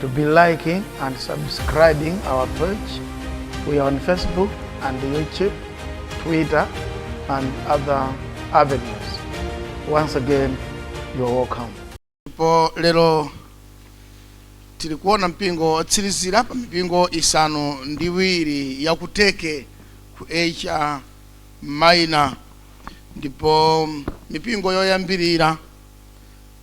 to be liking and subscribing our page. We are on Facebook and YouTube, Twitter, and other avenues. Once again, you are welcome. ndipo lero tili kuona mpingo otsirizira pa mipingo isanu ndi iwiri ya ku chiteke ku asia minor ndipo mipingo yoyambirira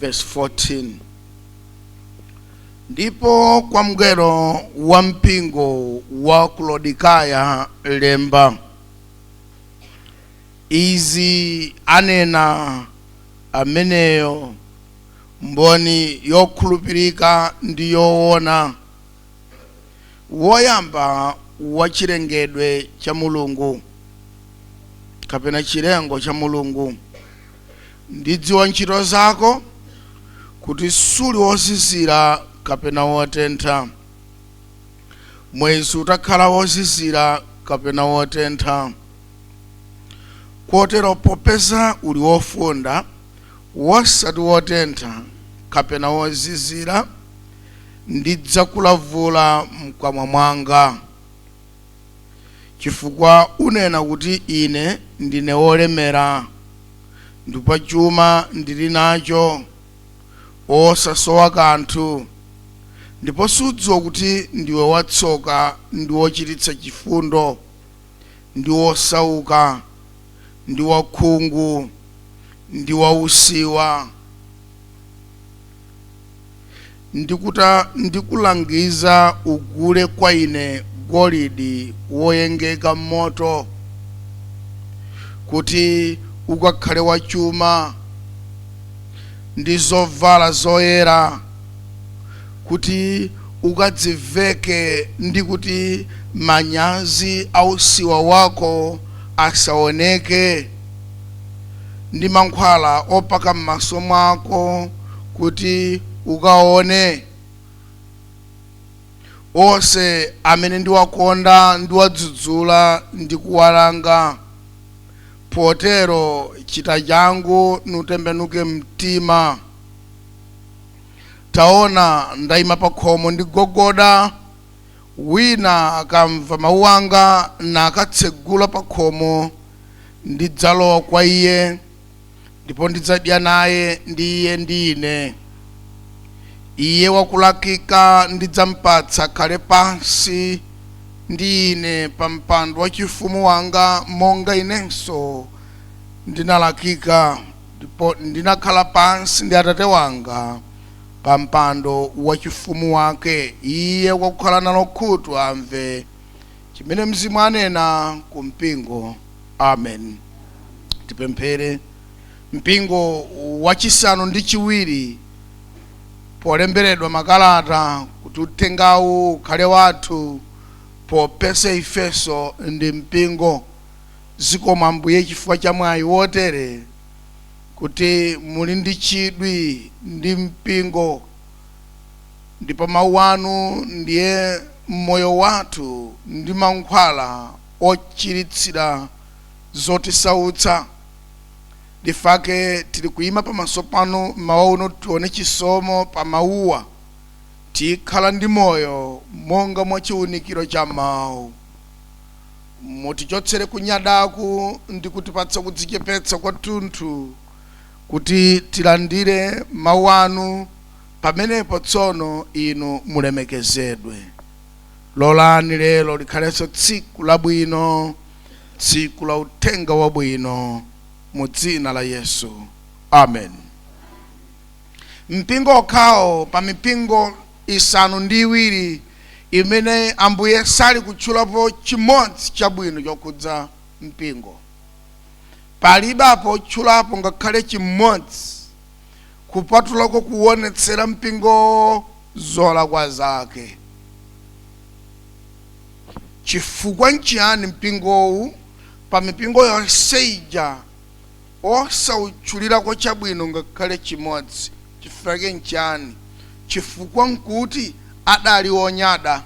verse 14 ndipo kwa mngelo wa mpingo wa ku laodikaya lemba izi anena amenyo mboni yokhulupirika ndi yoona woyamba wa chilengedwe cha mulungu kapena chilengo cha mulungu ndidziwa ntchito zako kuti suli wozizira kapena wotentha mwezi utakhala wozizira kapena wotentha kotero popeza uli wofunda wosati wotentha kapena wozizira ndidzakulavula m'kamwa mwanga, chifukwa unena kuti, Ine ndine wolemera, ndipo chuma ndili nacho, osasowa kanthu, ndipo sudziwa kuti ndiwe watsoka ndi wochititsa chifundo, ndi wosauka, ndi wakhungu, ndi wausiwa. Ndikuta ndikulangiza ugule kwa ine golidi woyengeka m'moto, kuti ukakhale wachuma, ndi zovala zoyera, kuti ukadziveke, ndi kuti manyazi a usiwa wako asaoneke. ndi mankhwala opaka m'maso mwako kuti ukaone. Onse amene ndiwakonda ndiwadzudzula ndi kuwalanga. Potero chita changu nutembenuke mtima. Taona, ndaima pakhomo ndigogoda. Wina akamva mawu anga na akatsegula pa khomo, ndidzalowa kwa iye, ndipo ndidzadya naye, ndi iye ndi ine. Iye wakulakika ndidzampatsa khale pansi ndi ine pa mpando wachifumu wanga, monga inenso ndinalakika, ndipo ndinakhala pansi ndi Atate wanga. pa mpando wachifumu wake. Iye wakukhala nalo khutu amve chimene Mzimu anena ku mpingo. Amen. Tipemphere. Mpingo wachisanu ndi chiwiri, polemberedwa makalata kuti uthengawu ukhale wathu, popeza ifenso ndi mpingo. Zikomo Ambuye chifukwa cha mwayi wotere. kuti muli ndi chidwi ndi mpingo ndipo mawu anu ndiye moyo wathu ndi mankhwala ochiritsira zotisautsa nchifake tili kuyima pamaso panu mmawa uno tione chisomo pa mawuwa tikhala ndi moyo monga mwa chiunikiro cha mawu Mutichotsere kunyadaku ndi kutipatsa kudzichepetsa kwathunthu kuti tilandire Mawu Anu, pamenepo tsono Inu mulemekezedwe. Lolani lero likhalenso tsiku labwino, tsiku la Uthenga Wabwino, mu Dzina la Yesu. Amen. Mpingo okhawo pa mipingo isanu ndi iwiri imene Ambuye sali kutchulapo chimodzi chabwino chokhudza mpingo. Palibe apo atchulapo ngakhale chimodzi kupatulako kuwonetsera mpingowo zolakwa zake. Chifukwa nchiyani mpingowu pa mipingo yonse ija osautchulirako chabwino ngakhale chimodzi. Chifukwa ke nchani? Chifukwa nkuti adali onyada,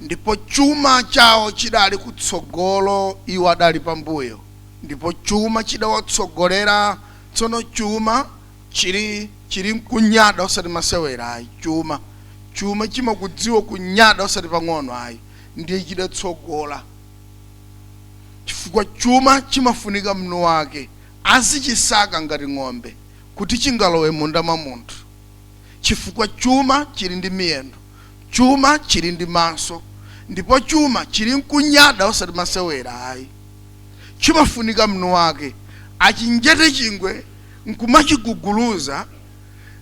ndipo chuma chawo chidali kutsogolo, iwo adali pambuyo, ndipo chuma chidawatsogolera, tsono chuma chili, chili nkunyada osati masewera ayi, chuma, chuma chimakudziwa kunyada osati pang'ono ayi, ndiye chidatsogola. chifukwa chuma chimafunika mwini wake azichisaka ngati ng'ombe kuti chingalowe munda mwa munthu chifukwa chuma chili ndi miyendo chuma chili ndi maso ndipo chuma chili nkunyada osati masewera ayi chimafunika mwini wake achinjate chingwe nkumachiguguluza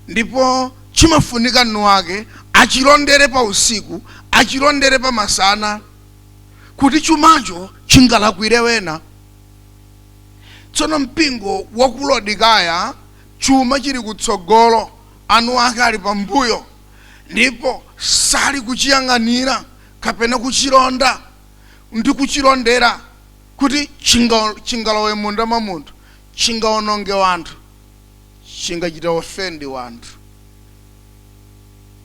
ndipo chimafunika mwini wake achilondere pa usiku achilondere pa masana kuti chumacho chingalakwire wena tsono mpingo wa ku lodikaya chuma chili kutsogolo anu ake ali pambuyo ndipo sali kuchiyang'anira kapena kuchilonda ndi kuchilondera kuti chingalowe munda mwa munthu chingaononge wanthu chingachita ofendi wanthu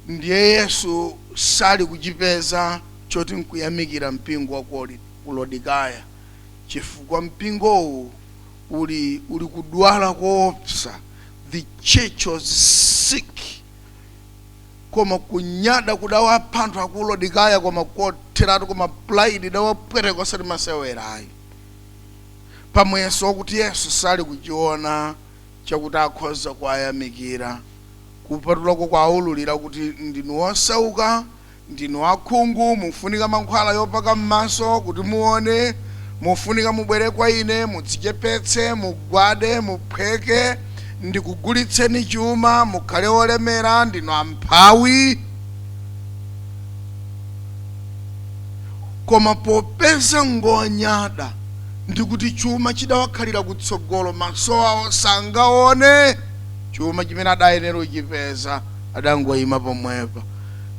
ndiye yesu sali kuchipeza choti nkuyamikira mpingo wa ku lodikaya chifukwa mpingowu uli uli kudwala koopsa the church was sick koma kunyada kudawapha anthu aku lodikaya koma kotheratu koma pride idawapweteka osati masewera ayi pamuyeso wakuti yesu sali kuchiona chakuti akhoza kuwayamikira, kupatulako kuwaululira kuti ndinu wosauka, ndinu wakhungu, mufunika mankhwala yopaka m'maso kuti muone, mufunika mubwere kwa ine, mudzichepetse, mugwade, muphweke, ndikugulitseni chuma, mukhale wolemera, ndinu amphawi. Koma popeza ngonyada, ndi kuti chuma chidawakhalira kutsogolo, maso awo sangaone chuma chimene adayenera kuchipeza, adangoima pomwepo,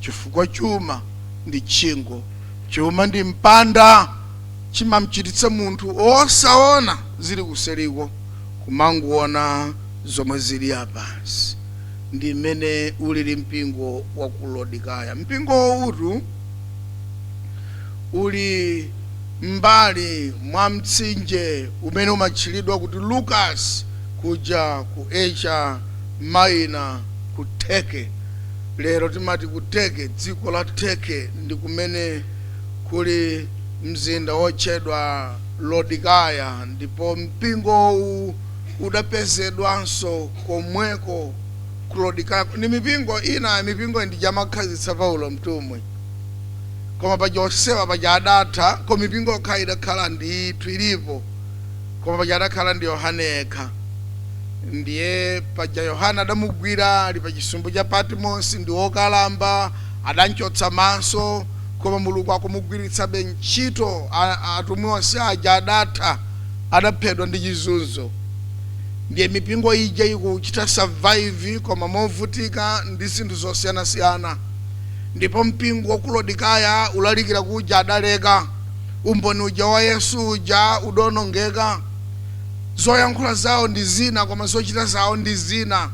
chifukwa chuma ndi tchingo, chuma ndi mpanda, chimamchititsa munthu osaona zili kuseriko, kumangoona zomwe zili apansi. Ndi mmene ulili mpingo wa ku Lodikaya. Mpingowutu. uli m'mbali mwa mtsinje umene umatchulidwa kuti Lucas kuja ku Asia Minor ku Turkey, lero timati ku Turkey, dziko la Turkey, ndi kumene kuli mzinda wotchedwa Lodikaya ndipo mpingowu udapezedwanso komweko. Kulodikako ni mipingo ina mipingo ija ankakhazikitsa Paulo mtumwi. Koma paja onsewa paja adatha koma mipingo yokha idakhala ndithu ilipo koma paja adakhala ndi Yohane yekha. Ndiye paja Yohane adamugwira ali pa chisumbu cha Patimosi ndi wokalamba adamchotsa maso koma Mulungu akumugwiritsabe ntchito a- atumwi onse aja adatha adaphedwa ndi chizunzo. ndiye mipingo ija ikuchita survive koma movutika ndi zinthu zosiyanasiyana ndipo mpingo wa ku lodikaya kulalikira kuja adaleka umboni uja wa yesu uja udaonongeka zoyankhula zawo ndi zina koma zochita zawo ndi zina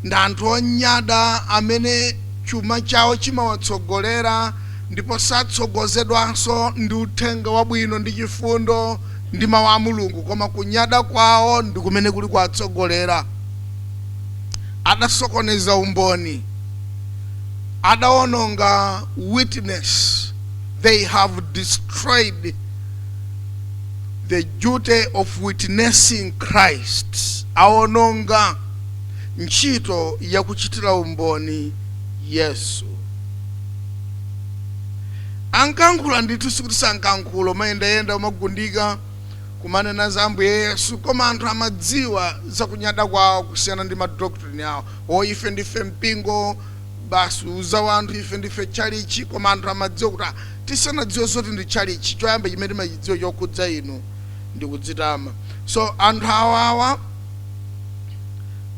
ndi anthu onyada amene chuma chawo chimawatsogolera ndipo satsogozedwanso ndi uthenga wabwino ndi chifundo ndi Mawu a Mulungu, koma kunyada kwawo ndi kumene kuli kuwatsogolera. Adasokoneza umboni. Adawononga witness. They have destroyed the duty of witnessing Christ. Awononga ntchito yakuchitira umboni Yesu. Ankayankhula ndithu sikuti sankayankhula amayendayenda kumagundika kumanena za ambuye yesu koma anthu amadziwa za kunyada kwawo kusiyana ndi ma doctrine awo oh ife ndife mpingo basi kuuza wanthu ife ndife tchalitchi koma anthu amadziwa kuti ah tisanadziwe zoti ndi tchalitchi choyamba chimene timachidziwa chokhudza inu ndi kudzitama so anthu awawa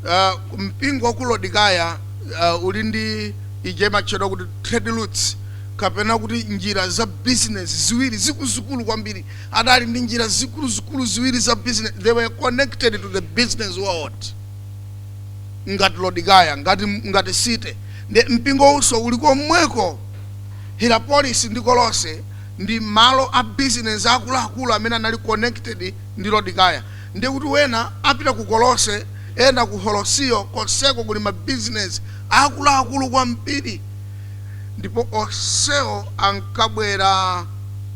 uh, mpingo wa ku lodikaya uh, uli ndi ija imatchedwa kuti trade routes kapena kuti njira za bizinesi ziwiri zikuluzikulu kwambiri, adali ndi njira zikuluzikulu ziwiri za bizinesi, they were connected to the business world ngati lodikaya ngati ngati city ndi mpingowunso uli komweko hirapolis ndi kolose ndi malo a bizinesi akuluakulu amene anali connected ndi lodikaya ndi kuti wena apita ku kolose ena ku holosiyo konseko kuli mabizinesi akuluakulu kwambiri ndipo onsewo ankabwera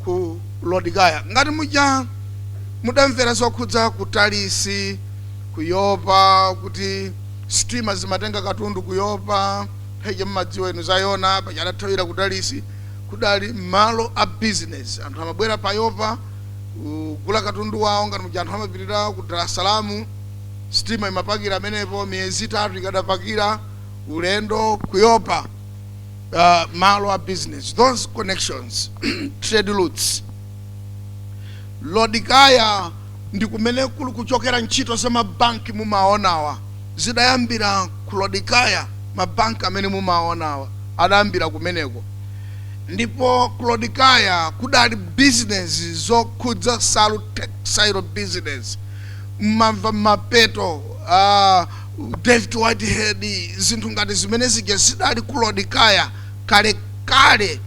ku Lodikaya. Ngati muja mudamvera zokhudza ku Tarisi, ku Yopa, kuti sitima zimatenga katundu ku Yopa, nthawi mumadziwa inu za Yona, paja adathawira ku Tarisi, kudali malo a bizinesi. Anthu amabwera pa Yopa kugula katundu wawo, ngati muja anthu amapitira ku Dar es Salaam, sitima imapakira amenepo, miyezi itatu ikadapakira. ulendo kuyopa uh, malo a business those connections trade routes lodikaya ndi kumene kuli kuchokera ntchito za mabanki mumaonawa zidayambira ku lodikaya mabanki amene mumaonawa adayambira kumeneko ndipo ku lodikaya kudali business zokhudza salu textile business mmamva Mapeto uh, David Whitehead, zinthu ngati zimene zija zidali ku Laodikaya kale kale.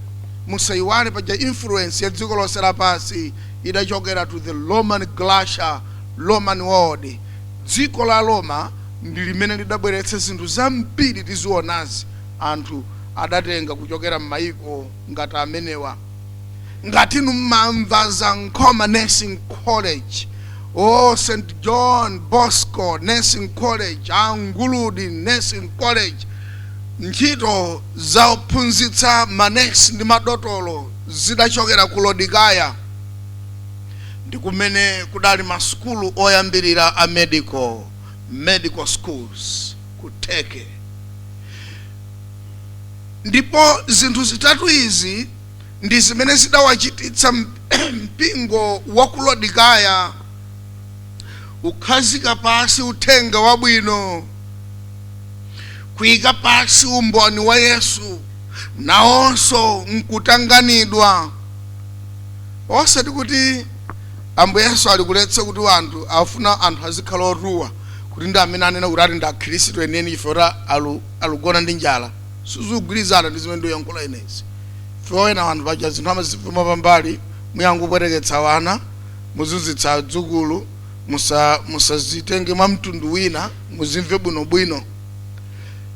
Musaiwale paja influence ya dziko lonse lapansi idachokera to the Roman Grecia, Roman world. Dziko la Roma ndi limene lidabweretsa zinthu zambiri tizionazi anthu adatenga kuchokera mmaiko ngati amenewa. ngati inu mmamva za nkhoma nursing college o st john bosco nursing college a nguludi nursing college ntchito zophunzitsa manesi ndi madotolo zidachokera ku lodikaya ndi kumene kudali masukulu oyambirira a medical medical schools ku turkey ndipo zinthu zitatu izi ndi zimene zidawachititsa mpingo wa ku lodikaya kukhazika pasi uthenga wabwino kuyika pasi umboni wa yesu nawonso nkutanganidwa osati kuti ambuye yesu ali kuletsa kuti anthu afuna anthu azikhala otuwa kuti ndi amene anena kuti ati ndi akhristu enieni ife oti alu alugona ndi njala sizugwilizana ndi zimene nduyankhula ine izi ife ena wanthu paja zinthu amazimva pambali muyamba kupweteketsa wana muzunzitsa adzukulu musa musazitenge mwa mtundu wina muzimve bwinobwino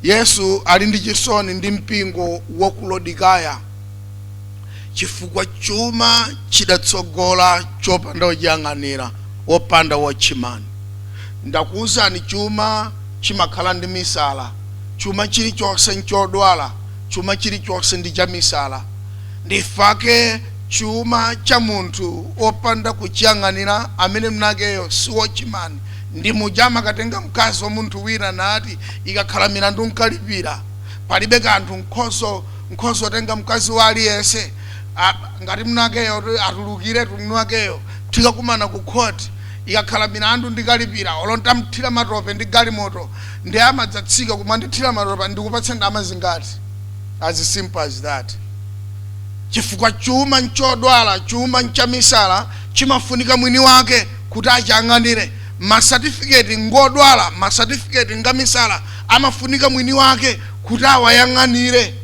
yesu ali ndi chisoni ndi mpingo wa ku lodikaya chifukwa chuma chidatsogola chopanda wochiyang'anira, wopanda watchman. Ndakuuzani chuma chimakhala ndi misala. Chuma chilichonse nchodwala. Chuma chilichonse ndi chamisala. Ndifake chuma cha munthu wopanda kuchiyang'anira amene mwinakeyo si watchman ndi muja amakatenga mkazi wa munthu wina nati ikakhala milandu nkalipira. Palibe kanthu nkhozo. nkhoza kutenga mkazi wa aliyense a- ngati mnakeyo kuti atulukiretu mnakeyo tikakumana ku court ikakhala milandu ndikalipira olo ntamthira matope ndi galimoto nde amadzatsika kumandithira matope ndikupatse ndalama zingati as simple as that chifukwa chuma nchodwala chuma nchamisala chimafunika mwini wake kuti achiyang'anire masatifiketi ngodwala masatifiketi ngamisala amafunika mwini wake kuti awayang'anire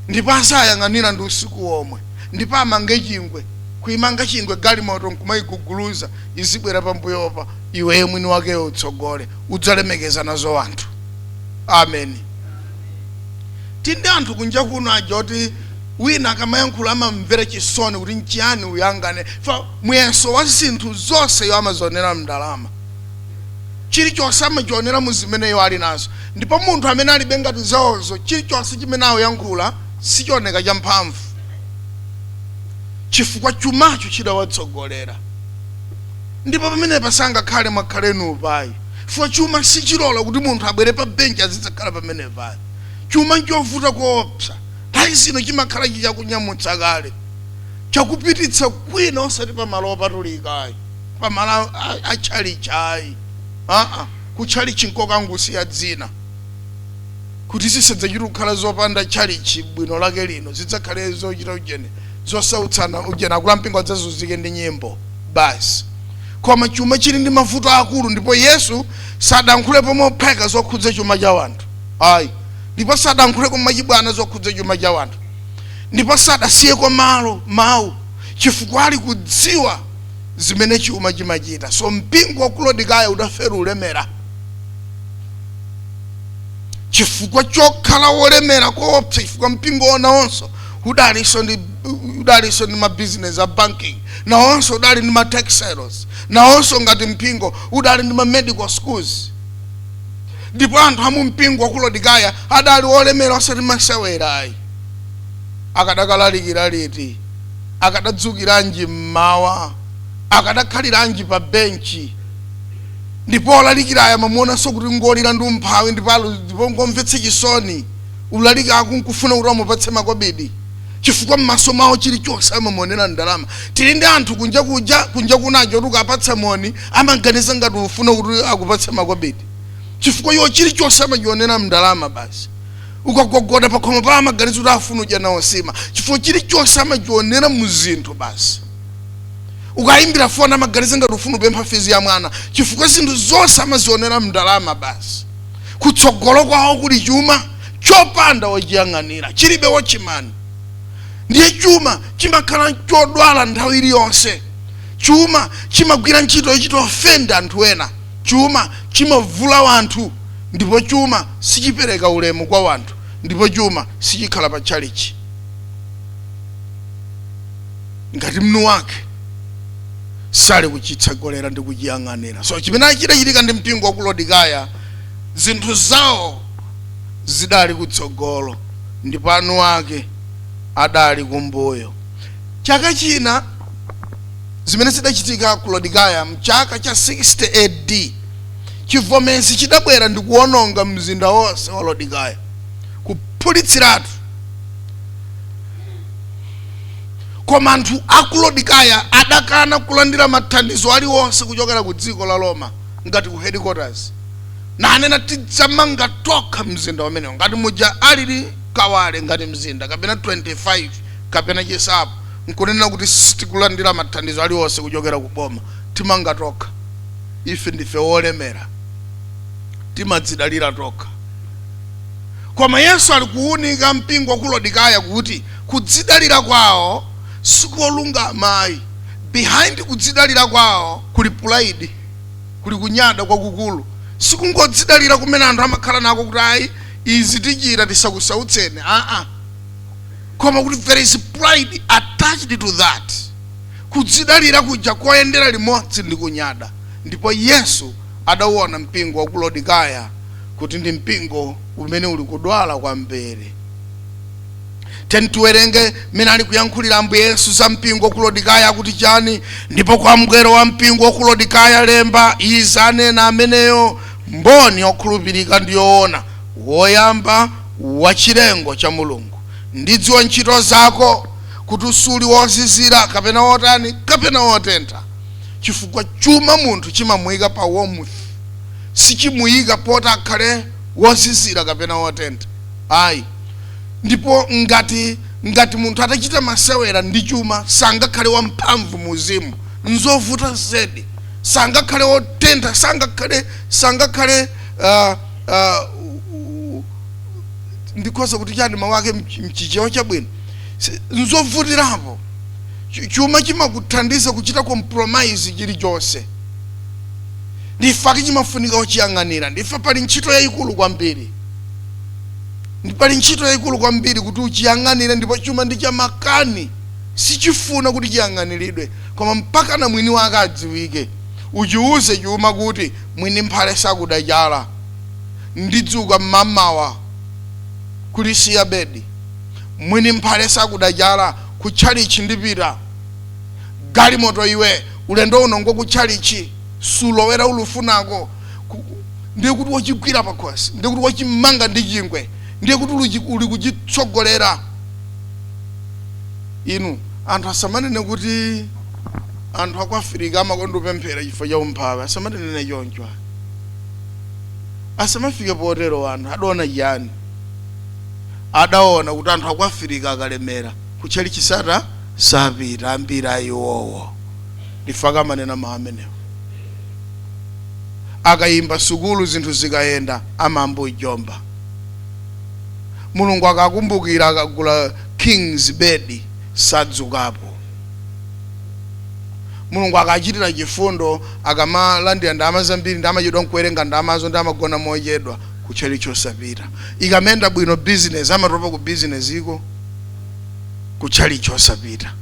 ndipo awayang'anire ndi usiku womwe ndipo amange chingwe kuimanga chingwe galimoto nkumayiguguluza izibwera pambuyopa iweyo mwini wakeyo utsogole udzalemekeza nazo wanthu amen tindi anthu kunja kuno aja oti wina akamayankhula amamvera chisoni kuti nchiyani uyanganeyu chifukwa muyeso wa zinthu zonse iwo amazionera mndalama chilichonse amachionera mu zimene iwo ali nazo ndipo munthu amene alibe ngati zawozo chilichonse chimene akuyankhula sichioneka cha mphamvu chifukwa chumacho chidawatsogolera ndipo pamenepa sangakhale mwakhala inupayi chifukwa chuma sichilola kuti munthu abwere pa benchi azidzakhala pamenepayi chuma nchovuta koopsa nthawi zino chimakhala chakunyamutsa kale chakupititsa kwina osati pa malo opatulika ayi pa malo a chalichi ayi aa ku chalichi nkokangosiya dzina kuti zisadzachita kukhala zopanda chalichi bwino lake lino zidzakhale zochita ujeni zosautsana ujeni akulu ampingo adzazunzike ndi nyimbo basi koma chuma chili ndi mavuto akulu ndipo yesu sadankhulepo mopheka zokhudza chuma cha wanthu ayi ndipo sadankhuleko machibwana zokhudza chuma cha wanthu ndipo sadasiyeko malo mawu chifukwa ali kudziwa zimene chuma chimachita so mpingo wa ku Laodikaya udafera ulemerera chifukwa chokhala wolemera koopsa chifukwa mpingowo nawonso udalinso ndi udalinso ndi mabizinesi a banking nawonso udali ndi ma textiles nawonso ngati mpingo udali ndi ma medical schools ndipo anthu a mu mpingo wa ku Laodikaya adali olemera osati masewera ayi akadakalalikira liti akadadzukiranji m'mawa? Akadakhaliranji pa benchi? Ndipo olalikirayo amamuonanso kuti ngolira ndi umphawi ndipo alu- ndipo ngomvetsa chisoni. Kulalikako nkufuna kuti amupatse makobidi chifukwa m'maso mawo chilichonse amamuonera mndalama. Tili ndi anthu kunja kuja kunja kunaja oti ukawapatsa moni amaganiza ngati ufuna kuti akupatse makobidi chifukwa iwo chilichonse amachionera mndalama basi. ukagogoda pakhomo pa amaganiza kuti afuna udya nawo nsima chifukwa chilichonse amachionera mu zinthu basi ukayimbira foni amaganiza ngati ufuna upempha fizi ya mwana chifukwa zinthu zonse amazionera mndalama basi kutsogolo kwawo kuli chuma chopanda wochiyang'anira chilibe wochimani ndiye chuma chimakhala chodwala nthawi iliyonse chuma chimagwira ntchito yochita ofenda anthu ena chuma chimavula wanthu Ndipo chuma sichipereka ulemu kwa wanthu, ndipo chuma sichikhala pa tchalitchi. Ngati mwini wake sali kuchitsogolera ndi kuchiyang'anira. So chimene chidachitika ndi mpingo wa ku Lodikaya, zinthu zawo zidali kutsogolo ndipo eni ake adali kumbuyo. Chaka china zimene zidachitika ku Lodikaya mchaka cha 60 AD. chivomezi chidabwera ndikuwononga mzinda wonse wa lodikaya kuphulitsiratu koma anthu akulodikaya adakana kulandira mathandizo aliwonse kuchokera ku dziko la roma ngati ku headquarters nanena tidzamanga tokha mzinda umenewo ngati muja alili kawale ngati mzinda kapena 25 kapena chinsapo nkunena kuti sitikulandira mathandizo aliwonse kuchokera ku boma timanga tokha Ife ndife wolemera, timadzidalira tokha. Koma Yesu ali kuunika mpingo wa ku Lodikaya kuti kudzidalira kwawo sikolungama ayi. Behind kudzidalira kwawo kuli pride, kuli kunyada kwakukulu. Sikungodzidalira kumene anthu amakhala nako kuti ayi izi tichita tisakusautseni aa koma kuti there is pride attached to that. Kudzidalira kuja koyendera limodzi ndi kunyada, ndipo Yesu adauona mpingo wa ku Lodikaya kuti ndi mpingo umene uli kudwala kwambiri. Tiyeni tiwerenge mmene ali kuyankhulira Ambuye Yesu za mpingo wa ku Lodikaya akuti chani, ndipo kwa mngelo wa mpingo wa ku Lodikaya lemba, izi anena Ameniyo, mboni yokhulupirika ndi yoona, woyamba wa chilengo cha Mulungu. Ndidziwa ntchito zako. kuti suli wozizira kapena wotani kapena wotentha chifukwa chuma munthu chimamuyika pa warmth sichimuyika poti akhale wozizira kapena wotentha ayi ndipo ngati ngati munthu atachita masewera ndi chuma sangakhale wamphamvu mu uzimu nzovuta zedi sangakhale wotentha sangakhale sangakhale uh, uh, ndikhoza kuti chani mawu ake mchichewa chabwino Si- nzovutirapo Chu- chuma chimakuthandiza kuchita compromise chilichonse ndi chifukwa chake chimafunika wochiyang'anira ndi chifukwa pali ntchito yayikulu kwambiri Ndi- pali ntchito yayikulu kwambiri kuti uchiyang'anire ndipo chuma ndi chamakani sichifuna kuti chiyang'aniridwe koma mpaka na mwini wake adziwike uchiwuze chuma kuti mwini mphale sakuda chala ndidzuka mmamawa kulisiya bedi mwini mphale sakuda chala ku tchalitchi ndipita galimoto iwe ulendo uno ngoku tchalitchi sulowera ulufunako Ku- ndiye kuti wachigwira pakhosi ndiye kuti wachimanga ndi chingwe ndiye kuti uluchi- uli kuchitsogolera inu anthu asamanene kuti anthu aku afirika amakonda kupemphera chifukwa cha umphawi asamanene choncho ayi. asamafike potero anthu adaona chiyani adaona kuti anthu aku Afirika akalemera kutchalitchi sata sapita ambiri a iwowo ndi chifukwa chake amanena mawu amenewo akayamba sukulu zinthu zikayenda amayamba kujomba mulungu akakumbukira akagula kings bed sadzukapo mulungu akachitira chifundo akamalandira ndalama zambiri ndi amachedwa n'kuwerenga ndalamazo ndi amagona mochedwa ku chalichi osapita ikamayenda bwino bizinesi amatopa ku bizinesiko ku chalichi osapita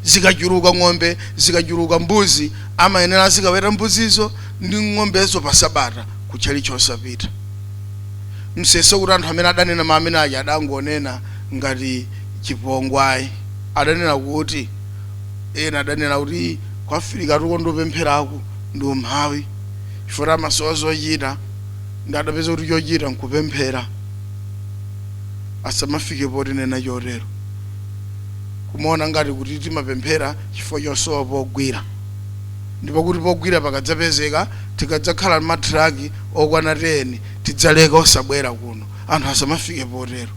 zikachuluka ng'ombe zikachuluka mbuzi amayenera azikaweta mbuzizo ndi ng'ombezo pa sabata ku chalichi osapita musayese kuti anthu amene adanena mawu amene aja adangonena ngati chipongwe ayi adanena kuti ena adanena kuti ku Afirikatu kukonda kupempheraku ndi umphawi chifukwa amasowa zochita ndiye adapeza kuti chochita nkupemphera asamafike potinena chotero kumaona ngati kuti timapemphera chifukwa chosowa pogwira ndipo kuti pogwira pakadzapezeka tikadzakhala ndi matraki okwana 10 tidzaleka osabwera kuno anthu asamafike potero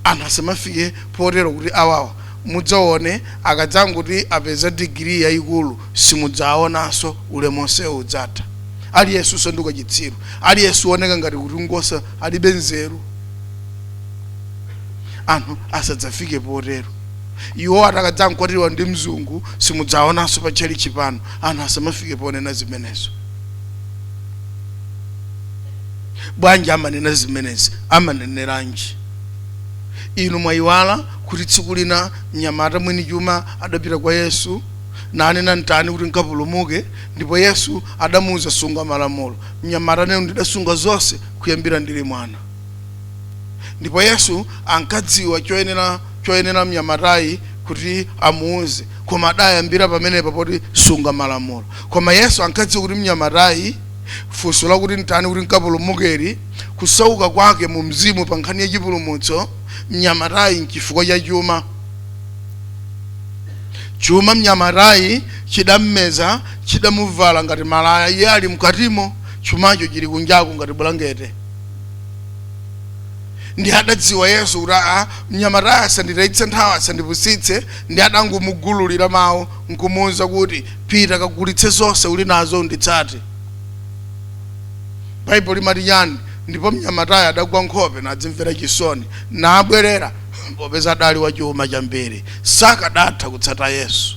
anthu asamafike potero kuti awawa mudzaone akadzangoti apeza digiri yayikulu simudzaonanso ulemu onsewo udzatha aliyense asanduka chitsiru aliyense aoneka ngati kuti ngosa alibe nzeru anthu asadzafike potero iwowa akadzangokwatiwa ndi mzungu simudzaonanso pa tchalitchi pano anthu asamafike ponena zimenezo bwanji amanena zimenezi amaneneranji inu mwayiwala kuti tsiku lina mnyamata mwini chuma adapita kwa yesu nanena, N'tani kuti n'kapulumuke? Ndipo Yesu adamuuza, Sunga malamulo. Mnyamata nanena, Ndidasunga zonse kuyambira ndili mwana. Ndipo Yesu ankadziwa choyenera mnyamatayi kuti amuuze, koma adayambira pamenepa poti sunga malamulo. Koma Yesu ankadziwa kuti mnyamatayi funso lakuti n'tani kuti n'kapulumukeli, kusauka kwake mu mzimu pa nkhani ya chipulumutso mnyamatayi n'chifukwa cha chuma. Chuma mnyamatayi chidammeza, chidamuvala ngati malaya iye ali mkatimo, chumacho chili kunjaku ngati bulangete. Ndiye adadziwa Yesu kuti aa, mnyamatayi asanditayitse nthawi, asandipusitse, ndiye adangomugululira mawu nkumuuza kuti, pita kagulitse zonse uli nazo unditsate. Baibulo limati chani? Ndipo mnyamatayi adagwa nkhope nadzimvera chisoni, nabwerera. popeza adali wachuma chambiri sakadatha kutsata yesu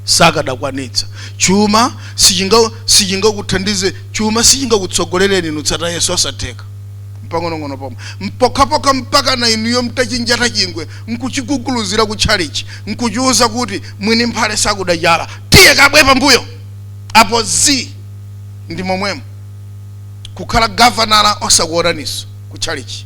sakadakwanitsa chuma sichinga- sichingakuthandize chuma sichingakutsogolereni nutsata yesu osatheka mpang'onong'ono pomwe mpokhapokha mpaka na inuyo mtachinjata chingwe nkuchiguguluzira ku tchalichi nkuchiuza kuti mwini mphale sakudajala tiye kabwe pambuyo apo zi ndi momwemo kukhala gavanala osakuonaniso ku tchalichi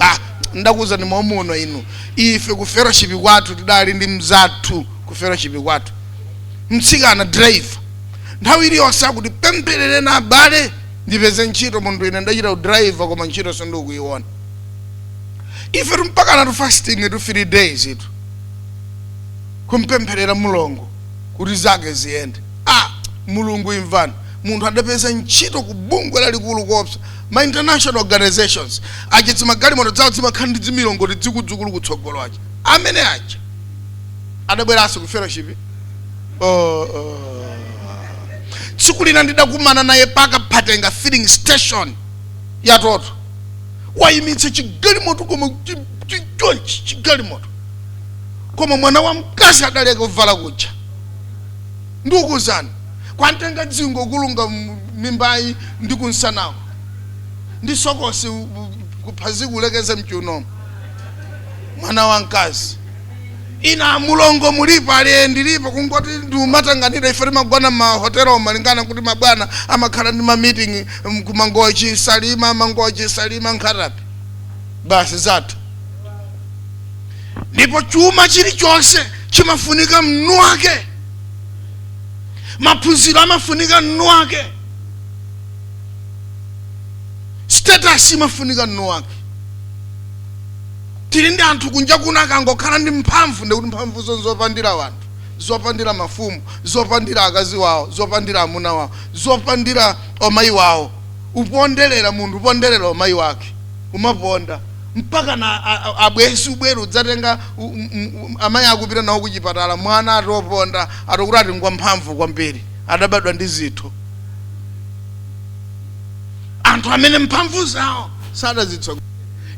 Ah, ndakuwuzani momuno inu, ife ku fellowship kwathu tidali ndi mzathu ku fellowship kwathu, mtsikana driver, nthawi iliyonse akuti tipempherereni abale ndipeze ntchito. Munthu ine ndachita udriver koma ntchito sindikuyiona. Ife mpakana fasting three days itu kumpempherera mlongo kuti zake ziyende. Ah, mulungu imvani, munthu adapeza ntchito ku bungwe lalikulu kopsa ma international organizations aja dzimagalimoto dzawo dzimakhala ndi dzimilongoti dzikudzukulu kutsogolo aja amene aja adabweranso ku fellowship oh, oh. tsiku lina ndidakumana naye pa Kaphatenga filling station ya Total wayimitsa chigalimoto koma chi- chi- chonchi chigalimoto koma mwana wa mkazi adaleka kuvala kuja Ndikukuuzani, kwamtenga dzingo kulunga mimbayi ndi kumsanaku, ndi sokosi kuphazi kulekeza m'chiunomu, mwana wamkazi. Inu amulongo mulipo? Ali ee ndilipo, kungoti ndiumatanganidwa ife timagona m'mahotelomu malingana nkuti mabwana amakhala ndi ma meeting ku Mangochi, Salima, Mangochi, Salima, Nkhata Bay. Basi zathu. ndipo chuma chilichonse chimafunika mnu wake maphunziro amafunika mnu wake status imafunika mnu wake tili ndi anthu kunja kuno akangokhala ndi mphamvu ndiye kuti mphamvuzo nzopandira wanthu zopandira mafumu zopandira akazi wawo zopandira amuna wawo zopandira omayi wawo uponderera munthu uponderera omayi wake umaponda mpaka na a- a- abwenzi ubwere udzatenga u- m- m- amayi akupita nawo kuchipatala mwana atoponda atokuti ati ngwa mphamvu kwambiri adabadwa ndi zinthu anthu amene mphamvu zawo sadazitsogolera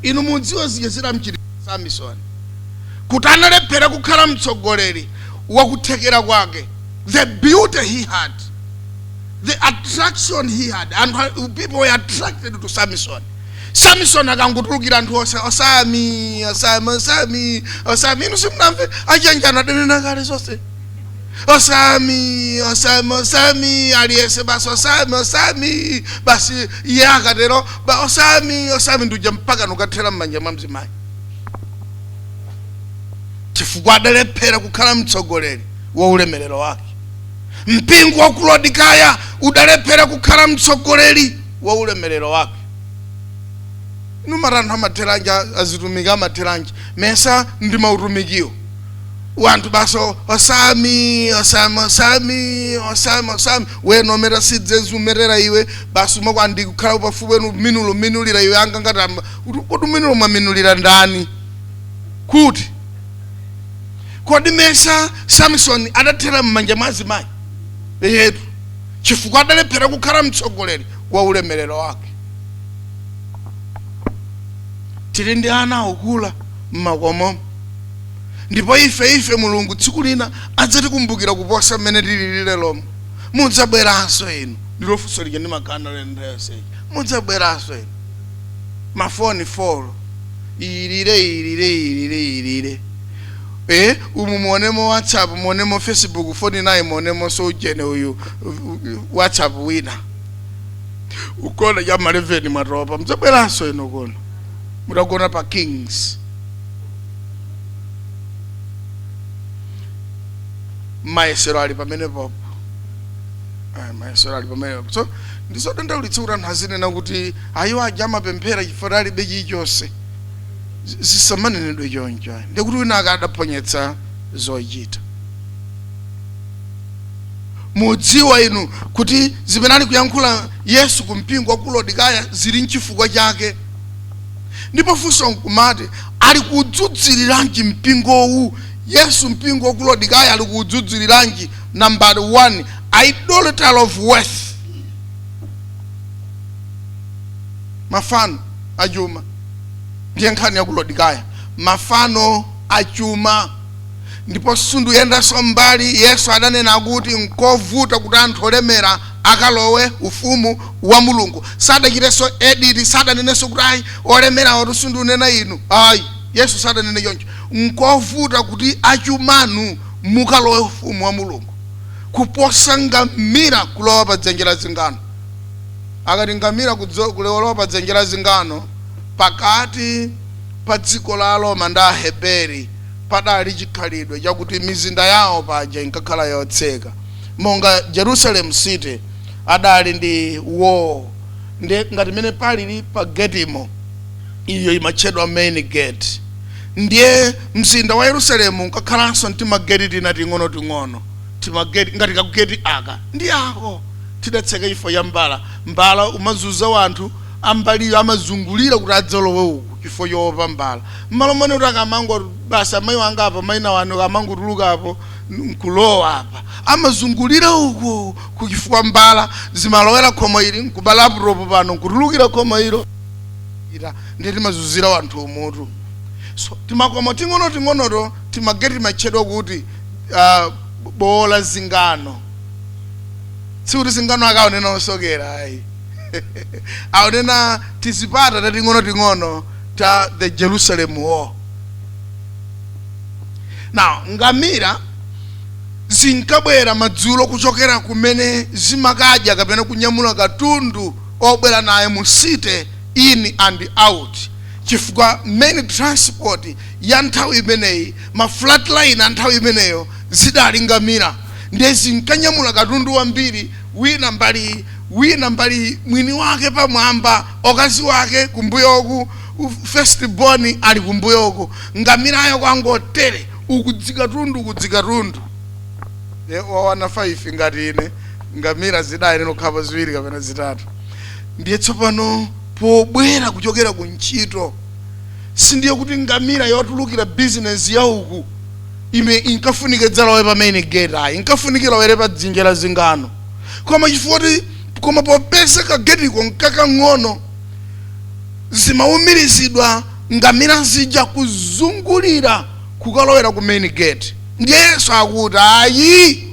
inu mudziwa zija zidamchitira samisoni kuti analephera kukhala mtsogoleri wakuthekera kwake the beauty he had the attraction he had and people were attracted to samson samisoni akangotulukira anthu onse osami osami osami osami inu simunamve achanjana adanena kale zonse osami osami osami aliyese basi osami osami basi iye akatero ba osami osami ndikuja mpaka nukathera m'manja mwa mzimayi chifukwa adalephera kukhala mtsogoleri wa ulemerero wake mpingo wa ku Laodikaya udalephera kukhala mtsogoleri wa ulemerero wake nanga anthu amatheranji azitumiki amatheranji mesa ndi mautumikiwo wanthu basi Osami osami osami osami osami wena omera sidzezi umerera iwe basi umakonda kukhala pafupi wenu minulo minulira iwe anga ngati amba kuti minulo mwaminulira ndani kuti kodi mesa samsoni adathera m'manja mwa azimayi eyetu chifukwa adalephera kukhala mtsogoleri wa ulemerero wake tili ndi ana akukula m'makomomo ndipo ife ife mulungu tsiku lina adzatikumbukira kuposa mmene tilili leromo mudzabweranso inu ndilo funso lija ndi makanda lendayoseja mudzabweranso inu mafoni folo ilire ilire ilire ilire ee umu muonemo whatsapp muonemo facebook foni naye muonemonso ujeni uyu whatsapp wina ukona cha maleveni mwatopa mdzabweranso inu kuno mutagona pa kings mayesero ali pamenepopo Ayi, mayesero ali pamene popo so ndizodandaulitsa kuti anthu azinena kuti ayi awo aja amapemphera chifukwa alibe chilichonse zi- zisamanenedwe choncho ayi. ndikuti wina akadaphonyetsa zochita mudziwa inu kuti zimene ali kuyankhula yesu ku mpingo wa ku lodikaya zili nchifukwa chake ndipo funso nkumati ali kudzudzuliranji mpingowu yesu mpingo wa ku lodikaya ali kudzudzuliranji number one idolatry of wealth mafano achuma ndiye nkhani ya kulodikaya mafano achuma ndipo sunduyendanso mbali yesu adanena kuti nkovuta kuti anthu olemera akalowe ufumu wa mulungu sadachitenso edit sadanenenso kuti ayi olemerawotu sundunena inu ayi yesu sadanene choncho nkovuta kuti achumanu mukalowe ufumu wa mulungu kuposa ngamira kulowa pa dzenje la zingano akati ngamila kudzo, kulowa pa dzenje la zingano, pakati pa dziko la Aroma ndi Aheberi padali chikhalidwe chakuti mizinda yawo paja inkakhala yotseka monga Jerusalem city adali ndi wall ndiye ngati mene palili pa getimo iyo imatchedwa main gate ndiye mzinda wa Yerusalemu unkakhalanso ntimageti tina ting'onoting'ono timageti ngati kageti aka ndi ako tidatseka chifukwa cha mbala mbala umazuza wanthu ambaliyo amazungulira kuti adzalowe uku chifukwa choopa mbala mmalo mone kuti akamango basi amayi wanga apa maina wanu akamangotuluka apo nkulowa apa amazungulira uku chifukwa mbala zimalowera khomo ili nkuba laptop pano nkutulukira khomo ilo ndiye timazuzira wanthu umutu so timakomo ting'onoting'onoto timageti timatchedwa kuti ah, bo- bowo la zingano sikuti zingano akunena osokera ayi akunena tizipata tating'onoting'ono ta the jerusalem wall now ngamira zinkabwera madzulo kuchokera kumene zimakadya kapena kunyamula katundu obwera naye mu city in and out chifukwa main transport ya nthawi imeneyi ma freightliner anthawi imeneyo zidali ngamira ndiye zinkanyamula katundu wambiri wina mbali iyi, wina mbali iyi, mwini wake pamwamba okazi wake kumbuyoku first born ali kumbuyoku ngamirayo kwangotere uku dzikatundu uku dzikatundu ye wa wana 5 ngati ine ngamira zidayenera kukhalapo ziwiri kapena zitatu ndiye tsopano pobwera kuchokera ku ntchito sindiye kuti ngamira yotulukira bizinesi ya uku ime inkafunika idzalowe pa main gate ayi inkafunika ilowere pa dzenje la zingano koma chifukwa kuti koma popeza kagetiko nkakang'ono zimaumirizidwa ngamira zija kuzungulira kukalowera ku main gate ndiye yesu akuti ayi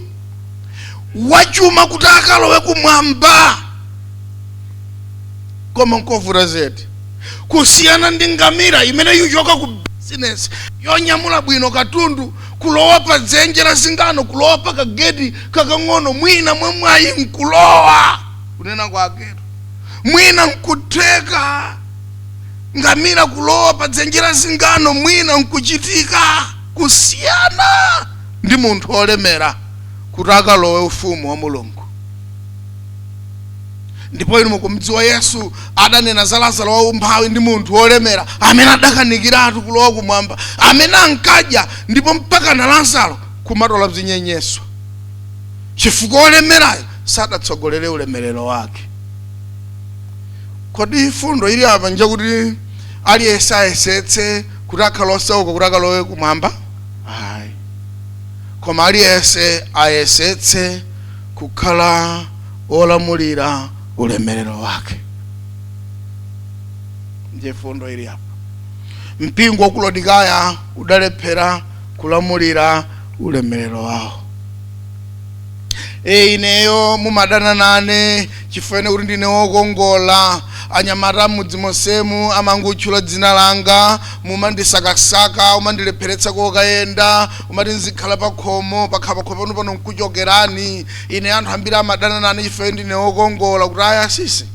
wachuma kuti akalowe kumwamba koma nkovuta zedi kusiyana ndi ngamira imene ikuchoka ku bizinesi yonyamula bwino katundu kulowa pa dzenje la zingano kulowa pa kageti kakang'ono mwina mwamwayi nkulowa kunena kwake mwina nkutheka ngamira kulowa pa dzenje la zingano mwina nkuchitika kusiyana ndi munthu olemera kuti akalowe ufumu wa mulungu ndipo inu mukumdziwa yesu adanena za lazaro waumphawi ndi munthu wolemera amene adakanikiratu kulowa kumwamba amene ankadya ndipo mpaka na lazaro kumatola zinyenyeswa chifukwa wolemerayo sadatsogolere ulemerero wake kodi fundo ili apa njakuti aliyense ayesetse kuti akhale osauka kuti akalowe kumwamba ayi koma aliyense ayesetse kukhala olamulira ulemerero wake ndiye fundo ili apa mpingo wa ku lodikaya udalephera kulamulira ulemerero wawo e ineyo mumadana nane chifukwa kuti ndine wokongola anyamata m'mudzi monsemu amangotchula dzina langa mumandisakasaka umandilepheretsa kokayenda umati nzikhala pakhomo pakhala pakhomo pano pano nkuchokerani ine anthu ambiri amadana nane chifukwa ndine wokongola kuti ayi asisi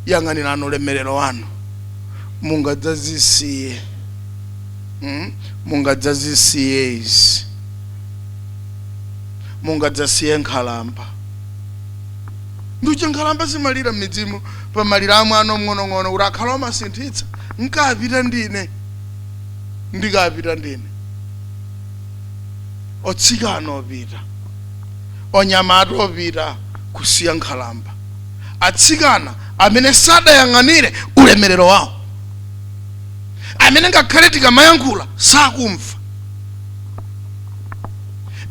yang'anirani ulemerero wanu mungadzazisiye mm? mungadzazisiye izi mungadzasiye nkhalamba ndichifukwa nkhalamba zimalira m'midzimu pamaliro a mwana omng'onong'ono kuti ukanakhala amasinthitsa nkapita ndine ndikapita ndine otsikana opita onyamata opita kusiya nkhalamba atsikana amene sadayang'anire ulemerero wawo amene ngakhale tikamayankhula sakumva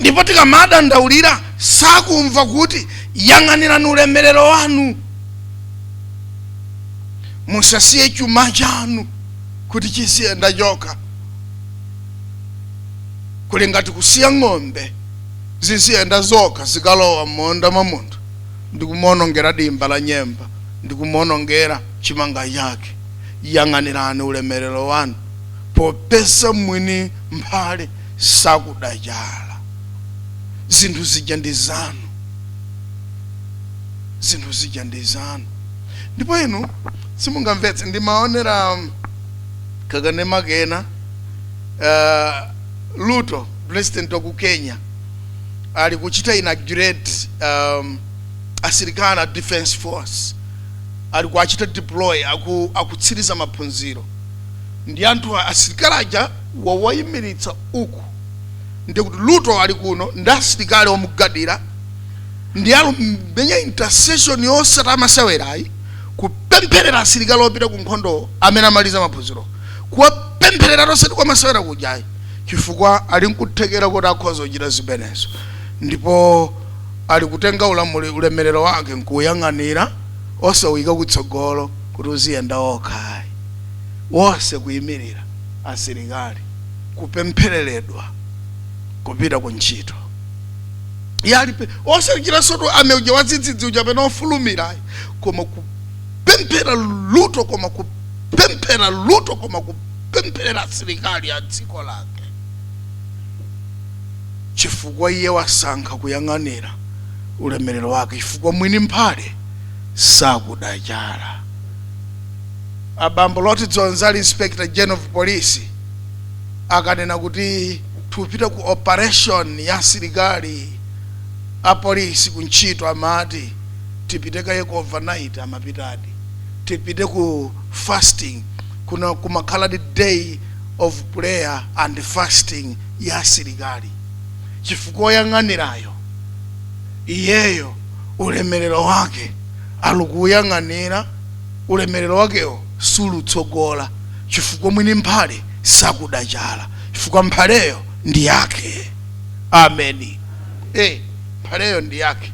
ndipo tikamadandaulira sakumva kuti yang'anirani ulemerero wanu musasiye chuma chanu kuti chiziyenda chokha kuli ngati kusiya ng'ombe ziziyenda zokha zikalowa m'munda mwa munthu ndi kumuonongera dimba la nyemba ndi kumuonongera chimanga chake yang'anirani ulemerero wanu popeza mwini mphale sakuda chala zinthu zija ndi zanu zinthu zija ndi zanu ndipo inu simungamvetse ndimaonera kakanema kena uh, ruto president wa ku kenya ali kuchita inaugurate um, asilikali a defense force ali kuachita deploy aku, akutsiriza maphunziro ndi anthu a- asilikali aja wawayimiritsa uku ndi kuti ruto ali kuno ndi asilikali omugwadira ndi alumenya intercession yosati amasewerayi kupempherera asilikali opita ku nkhondo amene amaliza maphunziro kuwapempherera osati kwamasewera kujayi chifukwa ali nkuthekera kuti akhoza kuchita zimenezo ndipo ali kutenga ulamuli ulemerero wake nkuuyang'anira osawuyika kutsogolo kuti uziyenda wokhayi onse kuyimirira asilikali kupemphereredwa kupita ku ntchito iye alipe osachitansotu ameneuja wadzidzidzi uja pena ofulumirayi koma ku kupemphera ruto koma kupemphera ruto koma kupemphera asilikali a dziko lake chifukwa iye wasankha kuyang'anira ulemerero wake chifukwa mwini mphale sakuda chala abambo loti dzonzi ali inspector general of police akanena kuti tikupita ku operation ya asilikali apolisi ku ntchito amati tipite kaye ku overnight amapitadi tipite ku fasting kuna kumakhala day of prayer and fasting ya asilikali chifukwa oyang'anirayo iyeyo ulemerero wake alikuuyang'anira ulemerero wakewo sulutsogola chifukwa mwini mphale sakuda chala chifukwa mphaleyo ndi yake ameni e mphaleyo ndi yake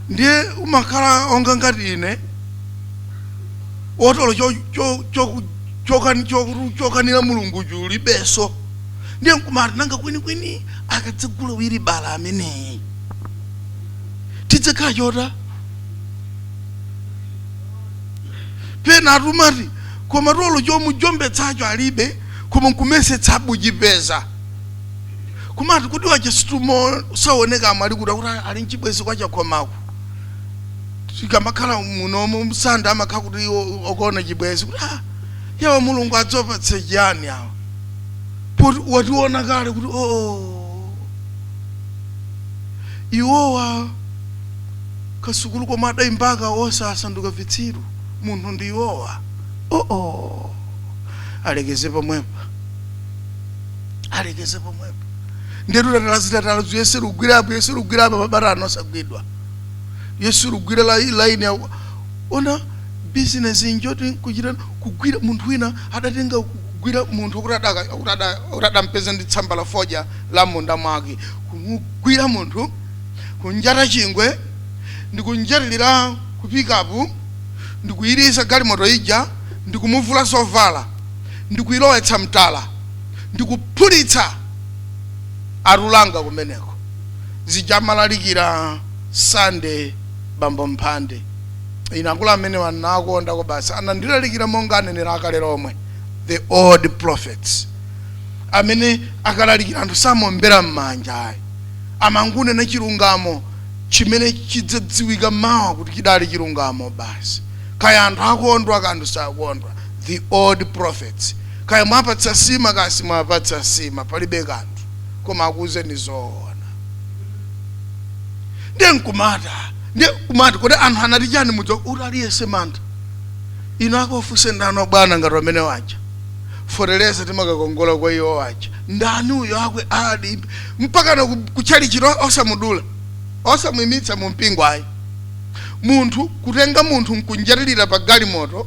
ndiye umakhala onga ngati ine otolo cho- cho- cho- chokani- cho- chokanira mulungu chilibenso ndiye nkumati nanga kwinikwini akadzagula wilibala ameneyi tidzikhala chotani pena anthu amati koma tolo chomujombetsa ntchito alibe koma nkumayesetsabe kuchipeza kumati kuti wachisutumo saoneka amalikuta kuti ali mchibwezi kwa chakhomako tikamakhala munomo msanda amakhala kuti o- okuona chibwezi kuti ah, yawa mulungu adzopatse chiyani awa poti wationa kale kuti oo iwowa kasukulu komwe adayimbaka onse asanduka vitsiru munthu ndi iwowa oo alekeze pomwepa alekeze pomwepo ndetu tatala zitatala zuyese lugwira apo yese lugwira apa mabata ano asagwidwa yesu lugwira la line ya ona business njoti kuchita kugwira munthu wina adatenga kugwira munthu akuti adaka akuti ada- akuti adampeza ndi tsamba la fodya la m'munda mwake kumugwira munthu kunjata chingwe ndikunjatilira kupikapu ndikuyiliza galimoto ija ndikumuvula zovala ndikuyilowetsa m'tala ndikuphulitsa alulanga kumeneko zija amalalikira sande bambo mphande ine akulu amenewa nakondako basi anandilalikira monga anenera akale lomwe the old prophets amene akalalikira anthu samombera m'manja ayi amangunena chilungamo chimene chidzadziwika mawa kuti chidali chilungamo basi kaya anthu akondwa kaya sakondwa the old prophets Kaya mwapatsa nsima kaya simwapatsa nsima palibe kanthu koma akuuzeni zoona. Ndiye nkumata ndiye kumati kodi anthu anati chani mudziwa kuti aliyense mantha. Inu akawafunse ndani obwana ngati amenewaja. Feteleza timakakongola kwa iwowaja. Ndani uyo akwe ali mpakana kutchalitchiko osamudula. Osamuimitsa mu mpingo ayi. Munthu kutenga munthu nkunjatilira pa galimoto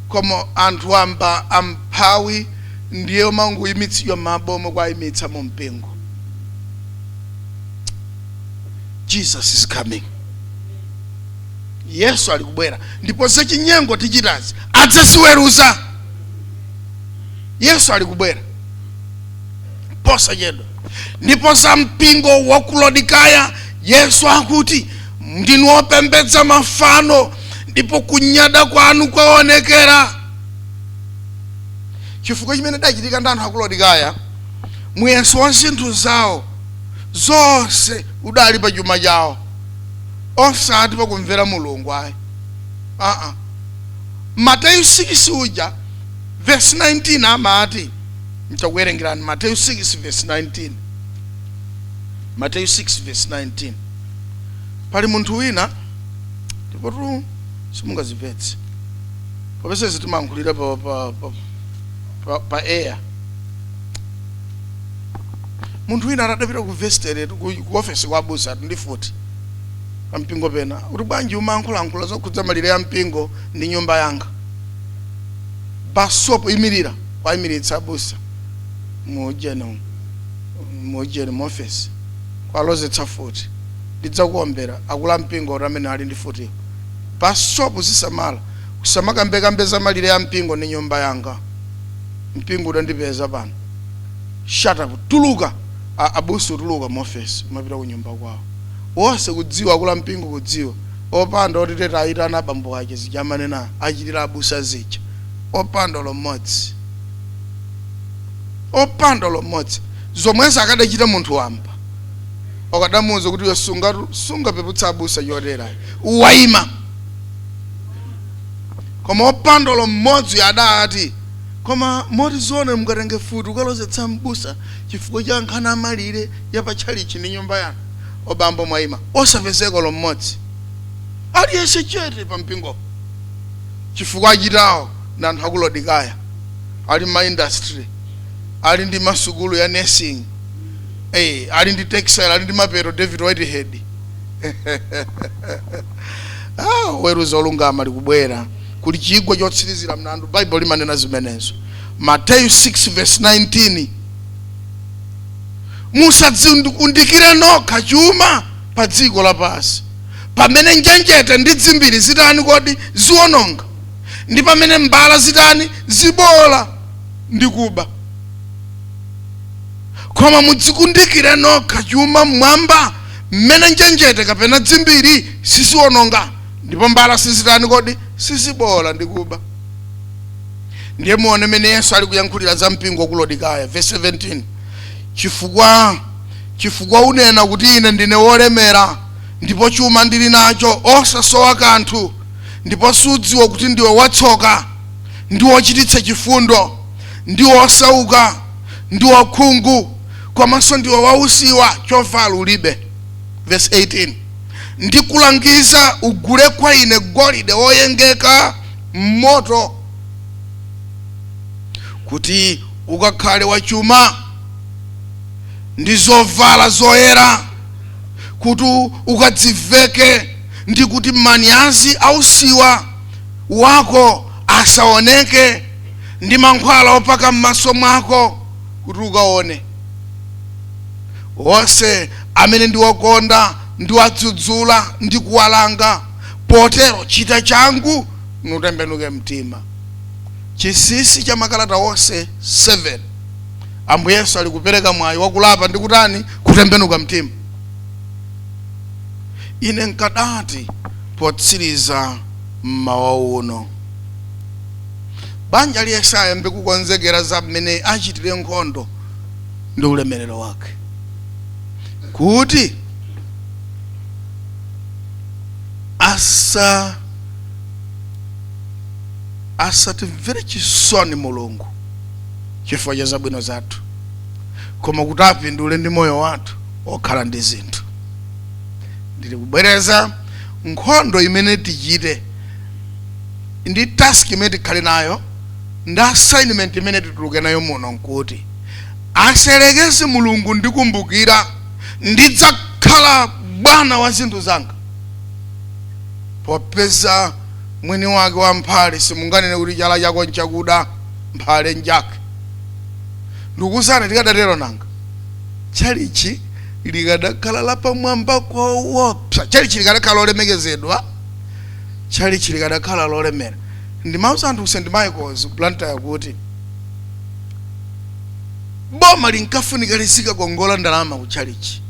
Koma anthu wamba amphawi ndiye omangoyimitsidwa mmabo omwe kuwayimitsa mu mpingo. Jesus is coming. Yesu ali kubwera ndipo zachinyengo tichitazi adzaziweruza. Yesu ali kubwera posachedwa. Ndipo za mpingo wa ku Laodikaya Yesu akuti ndinu opembedza mafano ndipo kunyada kwanu kwaonekera chifukwa chimene chidachitika ndi anthu a ku laodikaya muyeso wa zinthu zawo zonse udali pa chuma chawo osati pakumvera mulungu ayi aa mateyu 6 uja vesi 19 amati ntakuwerengerani mateyu 6 vesi 19 mateyu 6 vesi 19 pali munthu wina ndipotu simungazimvetse popeza zitimankhulira pa, pa, pa, pa, pa air munthu wina atadapita ku vestere ku ku ofesi kwa abusatu ndi futi pampingo pena kuti bwanji umankhulankhula zokhudza malire ya mpingo ndi nyumba yanga basopo imirira kuwayimiritsa abusa mujeni mujeni mu ofesi kuwalozetsa futi ndidzakuombera akulu ampingo or amene ali ndi futi basopo uzisamala usamakambekambe za malire a mpingo ndi nyumba yanga mpingo udandipeza pano shut up tuluka A- abusa tuluka mu office kumapita ku nyumba kwawo wonse kudziwa akulu ampingo kudziwa opanda otiteta ayitana abambo ake zija amanena achitira abusa zija opanda olo mmodzi opanda olo mmodzi zomwezo akadachita munthu wamba okadamuuza kuti iwe sungatu sungapeputse abusa chotera ayi. waima koma opanda olo mmodzi adati koma moti zoona mukatenge futi mukalozetse mbusa chifukwa cha nkhani ya malire ya pa tchalitchi ndi nyumba yanu obambo mwaima osapezeka olo mmodzi aliyense chete pa mpingo chifukwa achitawo ndi anthu aku laodikaya ali ma industry ali ndi masukulu ya nursing eh, ali ndi textile ali ndi mapeto david whitehead ah, oweruza olungama ali kubwera kuli chigwa chotsirizira mlandu baibulo limanena zimenezo mateyu 6 verse 19 musadzikundikire nokha chuma pa dziko lapansi pamene njenjete ndi dzimbiri zitani kodi ziwononga ndi pamene mbala zitani zibola ndi kuba koma mudzikundikire nokha chuma m'mwamba mmene njenjete kapena dzimbiri siziwononga ndipo mbala sizitani kodi sizibola ndi kuba ndiye muone mmene yesu ali kuyankhulira za mpingo wa ku laodikaya verse 17 chifukwa chifukwa unena kuti ine ndine wolemera ndipo chuma ndili nacho osasowa kanthu ndipo sudziwa kuti ndiwe watsoka ndi wochititsa chifundo ndi wosauka ndi wakhungu komanso ndiwe wausiwa chovala ulibe verse 18 ndikulangiza ugule kwa ine golide woyengeka m'moto kuti ukakhale wachuma ndi zovala zoyera kuti ukadziveke ndi kuti manyazi ausiwa wako asaoneke ndi mankhwala opaka m'maso mwako kuti ukaone onse amene ndiwakonda ndiwadzudzula ndi kuwalanga potero chita changu nutembenuke mtima chinsinsi cha makalata onse 7 ambuye yesu ali kupereka mwayi wakulapa ndi kutani kutembenuka mtima ine nkadati potsiriza mmawa uno banja liyese ayambe kukonzekera za mmene achitire nkhondo ndi ulemerero wake kuti asa asatimvere chisoni mulungu chifukwa cha zabwino zathu koma kuti apindule ndi moyo wathu okhala ndi zinthu ndili kubwereza nkhondo imene tichite ndi task imene tikhale nayo ndi assignment imene tituluke nayo muno nkuti aselekeze mulungu ndikumbukira ndidzakhala bwana wa zinthu zanga popeza mwini wake wa mphale simunganene kuti chala chako nchakuda mphale njake ndikuzana tikadatero nanga tchalitchi likadakhala lapamwamba koopsa tchalitchi likadakhala lolemekezedwa tchalitchi likadakhala lolemera. Ndimauza anthu ku St Michaels ku Blantyre kuti boma linkafunika lizikakongola ndalama ku tchalitchi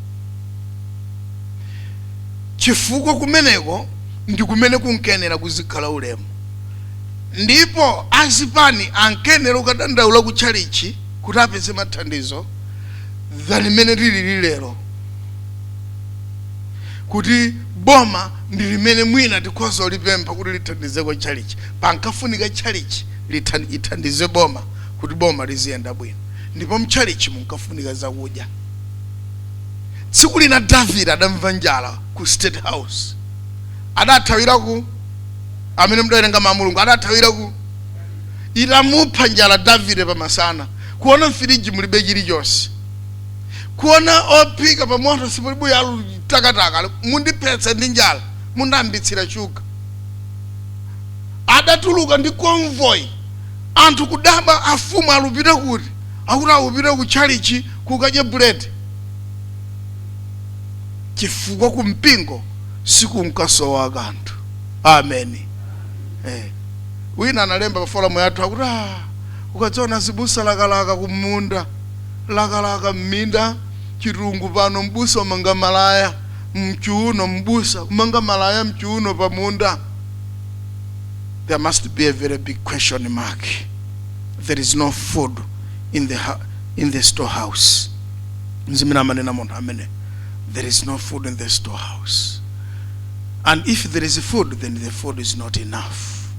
chifukwa kumeneko ndi kumene kunkenera kuzikhala ulemu ndipo azipani ankenera kukadandaula ku tchalitchi kuti apeze mathandizo than imene lilili lero kuti boma ndi limene mwina tikhoza kulipempha kuti lithandizeko tchalitchi. Pankafunika tchalitchi lithan- ithandize boma kuti boma liziyenda bwino, ndipo mtchalitchi munkafunika zakudya. Tsiku lina Davide adamva njala ku State House, adathawira ku amene mudawerenga mawu a Mulungu adathawira ku itamupha njala Davide pamasana, kuona mfiriji mulibe chilichonse kuona ophika pa moto sipali buyi alutakataka mundiphetsa ndi njala mundambitsira shuga adatuluka ndi convoy anthu kudaba afumu alupita kuti akuti akupita ku tchalitchi kukadya buledi chifukwa ku mpingo sikunkasowa kanthu amen. wina analemba pa forum yathu akuti "Ah, ukadziona abusa lakalaka kumunda lakalaka m'minda, chitungu pano, m'busa umanga malaya mchiuno, m'busa umanga malaya mchiuno pa munda. There must be a very big question mark. There is no food in the, in the storehouse. Nzimina manena munthu amene. There is no food in the storehouse. And if there is food, then the food is not enough.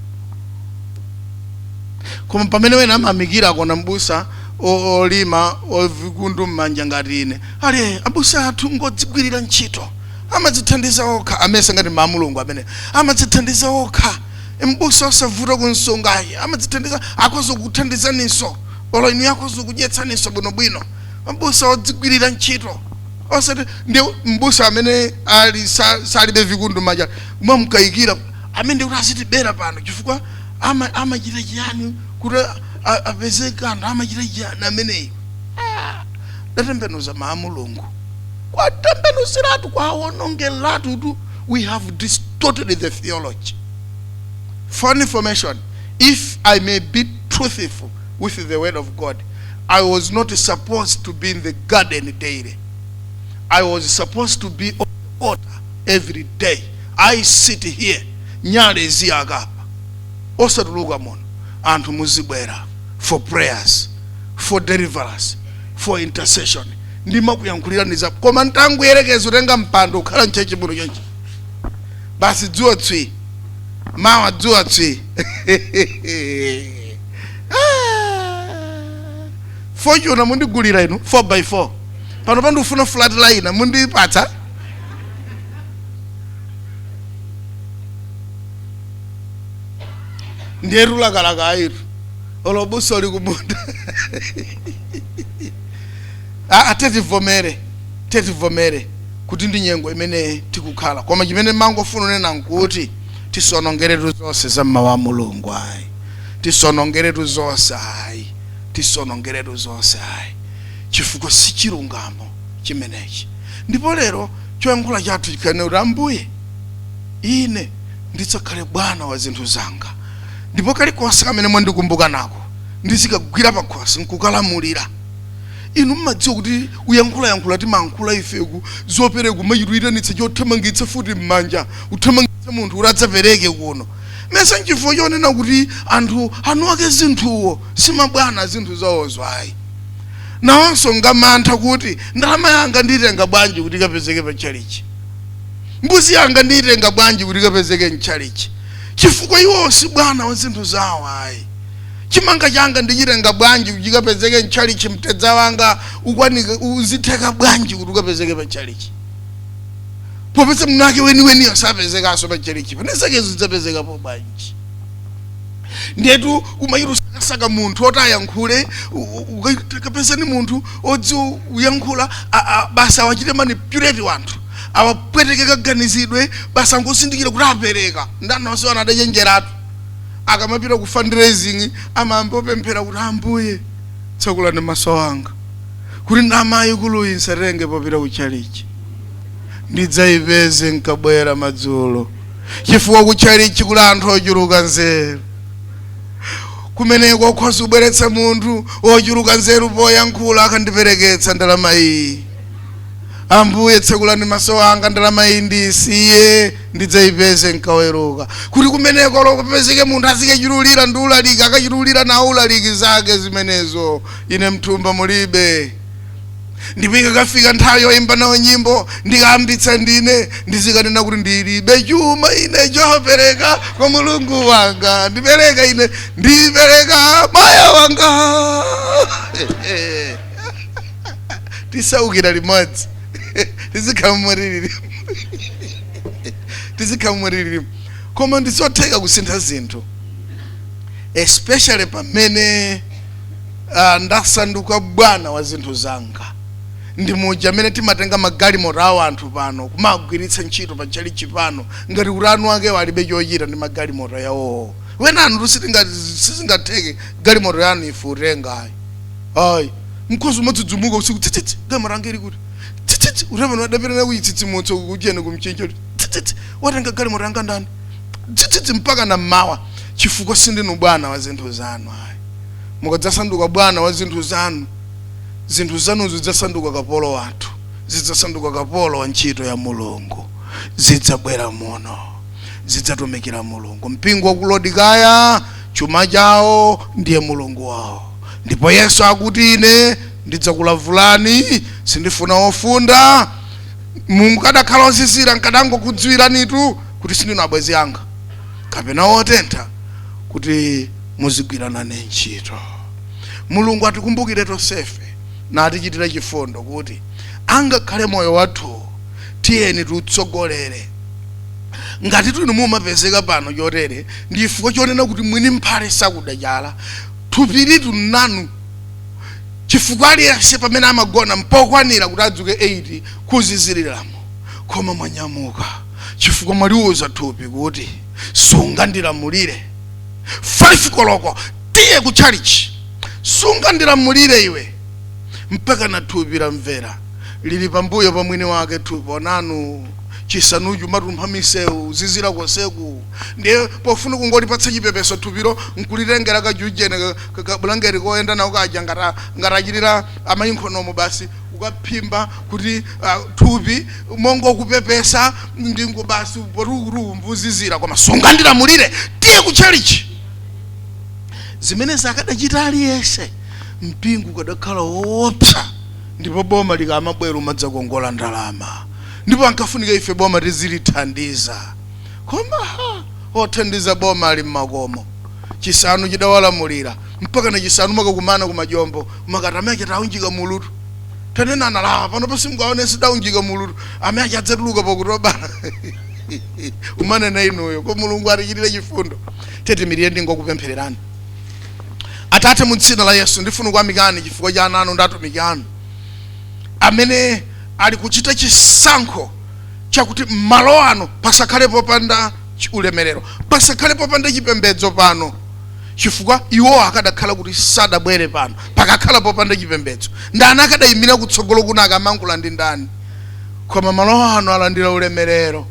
Koma pamene wena amayamikira kuona mbusa o- olima ovikundu m'manja ngati ine ali "Eh, abusa athu ngodzigwirira ntchito amadzithandiza okha amesa ngati ma mulungu amene amadzithandiza okha mbusa osavuta kunsunga ayi amadzithandiza akhoza kukuthandizaninso olo inu akhoza kudyetsaninso bwinobwino mbusa odzigwirira ntchito osati ndi mbusa amene ali sa- salibe vikundu m'manja mwamkayikira amene kuti azitibera pano chifukwa ama- amachita chiyani kuti a- a- apeze kanthu amachita chiyani ameneyo Ah, tatembenuza mawu a mulungu kwatembenuziratu kwawonongeratu tu we have distorted the theology for information if i may be truthful with the word of god i was not supposed to be in the garden daily I was supposed to be on the altar every day. I sit here, nyale ziyaka osatuluka muno anthu muzibwera for prayers for deliverance for intercession ndimakuyankhulirani za koma ntangoyerekeza utenga mpando ukhala mchechi muno chonchi basi dzuwa tswi mawa dzuwa tswi Ah. Fortuner mundigulira inu 4 by 4 pano pandifuna Freightliner mundipatsa ndiyetu lakalaka ayitu olo m'busa uli kumunda Ah, ah, tetivomere tetivomere kuti ndi nyengo imene tikukhala koma chimene mangofuna unena nkuti tisonongeretu zonse za m'mawu a mulungu ayi tisonongeretu zonse ayi tisonongeretu zonse ayi chifukwa si chilungamo chimenechi ndipo lero choyankhula chathu chikhale kuti ambuye ine ndidzakhale bwana wa zinthu zanga ndipo kalikonse kamene mwandikumbuka nako ndizikagwira pakhosi nkukalamulira inu mmadziwa kuti uyankhulayankhula timankhula ifeku zopereka umachita uyitanitsa chothamangitsa mfuti m'manja uthamangitsa munthu kuti adzapereke kuno mesa nchifukwa chonena kuti anthu anuake zinthuwo si mabwana a zinthu zawozo ayi nawonso ngamantha kuti ndalama yanga ndiitenga bwanji kuti ikapezeke pa tchalichi mbuzi yanga ndiyitenga bwanji kuti ikapezeke mtchalichi chifukwa iwo si bwana wa zinthu zawo ayi chimanga changa ndichitenga bwanji kuti chikapezeke mtchalichi mtedza wanga ukwanike uzitheka bwanji kuti ukapezeke pa tchalichi popeza mwinake weniweniyo sapezekanso pa tchalichi pano zakezo zidzapezekapo bwanji ndiyetu kumachita usakasaka munthu oti ayankhule u- u- uka- kapezani munthu odziwa kuyankhula a- a- basi awachite manipulate wanthu awapweteke kaganizidwe basi angozindikira kuti apereka ndiye anthunso ena adachenjeratu akamapita ku fundraising amayamba opemphera kuti ambuye tsekulani maso anga kuti ndalama yaikuluyi nsatenge popita ku tchalichi ndidzayipeze nkabwera madzulo chifukwa kutchalitchi kuli anthu ochuluka nzeru kumeneko okhoza kubweretsa munthu wochuluka nzeru poyankhula akandipereketsa ndalama iyi ambuye tsekulani maso anga ndalama iyi ndiisiye ndidzayipeze nkaweruka kuti kumeneko loko apezeke munthu azikachululira ndi ulaliki akachululira nawo ulaliki zake zimenezo ine mthumba mulibe ndipo ikakafika nthawi yoimba nawo nyimbo ndikayambitsa ndine ndizikanena kuti ndilibe chuma ine chopereka kwa mulungu wanga ndipereka ine ndipereka moyo wanga tisaukira limodzi tizikhala mmwa tililimu tizikhala mmwa tililimo koma ndizotheka kusintha zinthu especially pamene Ah, ndasanduka bwana wa zinthu zanga ndi muja amene timatenga magalimoto awo anthu pano kumagwiritsa ntchito pa tchalichi pano ngati kuti eni akewo alibe chochita ndi magalimoto yawowo ena anthu sitinga- sizingatheke galimoto yanu ife kutenga ayi mukhoza kumadzidzimuka usiku tsitsitsi galimoto yanga ili kuti tsitsitsi reverend adapirana kuyitsitsimutso kuchiyeni kumchinja kuti tsitsitsi watenga galimoto yanga ndani tsitsitsi mpaka na mmawa chifukwa sindinu bwana wa zinthu zanu ayi mukadzasanduka bwana wa zinthu zanu, zinthu zanu zidzasanduka kapolo wathu, zidzasanduka kapolo wa ntchito ya Mulungu, zidzabwera muno, zidzatumikira Mulungu. Mpingo wa ku Laodikaya chuma chawo ndiye mulungu wawo, ndipo Yesu akuti ine ndidzakulavulani, sindifuna ofunda mukadakhala ozizira nkadangokudziwiranitu kuti sindinu abwenzi anga kapena otentha kuti muzigwira nayo ntchito mulungu atikumbukire tonsefe natichitire chifundo kuti angakhale moyo wathu tiyeni tiutsogolere ngati tuli mumapezeka pano chotere ndi chifukwa chonena kuti mwini mphale sakuda chala thupili onanu chifukwa aliyense pamene amagona mpokwanira kuti adzuke 8 kuziziraku koma mwanyamuka chifukwa mwaliuza thupi kuti sungandilamulire 5 koloko tiye ku chalichi sungandilamulire iwe mpaka na thupi lamvera lili pambuyo pa mwini wake thupi onanu chisanuchi mwadumpha misewu kuzizira konseku ndiye pofuna kungolipatsa chipepeso thupilo nkulitengera kajujene kabulangeti koyenda nawo kaja ngati achitira amayi m'khomomo basi kukaphimba kuti ah, thupi mongokupepesa ndi ngo basi poti kukuzizira koma sungandilamulire tiye ku chalichi zimene zakadachita aliyense mpingo ukadakhala woopsa ndipo boma likamabwera umadzakongola ndalama ndipo kumkafunika ife boma tizilithandiza koma ha, othandiza boma ali mmakomo chisanu chidawalamulira mpaka na chisanu mukakumana ku majombo kumakati amene achita aunjika mulu tu tanena analawa pano pansi mukaone sidaunjika mulu tu amene achi adzatuluka pakutobala umane na inuyo ko mulungu atichitire chifundo tiyeni tiimirire ndingokupemphererani atate mu dzina la yesu ndifuna kuyamikani chifukwa cha ana anu ndi atumiki anu amene ali kuchita chisankho chakuti m'malo ano pasakhale popanda ulemerero pasakhale popanda chipembedzo pano chifukwa iwo akadakhala kuti sadabwere pano pakakhala popanda chipembedzo ndani akadayimira kutsogolo kuno akamayankhula ndi ndani koma malo ano alandira ulemerero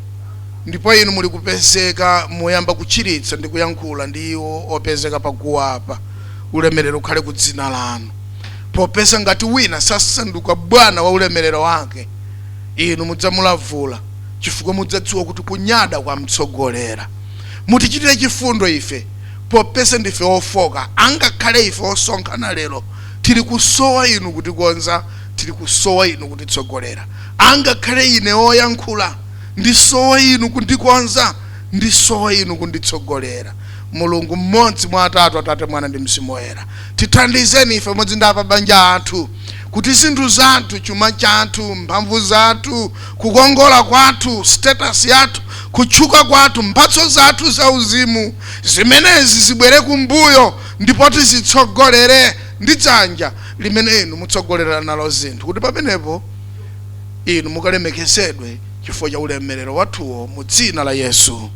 ndipo inu muli kupezeka muyamba kuchiritsa ndi kuyankhula ndi iwo opezeka paguwa apa ulemerero ukhale ku dzina lanu popeza ngati wina sasanduka bwana wa ulemerero wake inu mudzamulavula chifukwa mudzadziwa kuti kunyada kwamtsogolera Mutichitire chifundo ife, popeza ndife ofoka, angakhale ife osonkhana lero tili kusowa inu kutikonza, tili kusowa inu kutitsogolera. Angakhale ine oyankhula ndisowa inu kundikonza, ndisowa inu kunditsogolera. Mulungu mmodzi mwa atatu, Atate, Mwana ndi Mzimu Woyera, tithandizeni ife pamodzi ndi apabanja athu. kuti zinthu zathu, chuma chathu, mphamvu zathu, kukongola kwathu, status yathu, kutchuka kwathu, mphatso zathu zauzimu, zimenezi zibwere kumbuyo ndipo tizitsogolere ndi dzanja limene Inu mutsogolera nalo zinthu, kuti pamenepo Inu mukalemekezedwe chifukwa cha ulemerero wathuwo, mu Dzina la Yesu.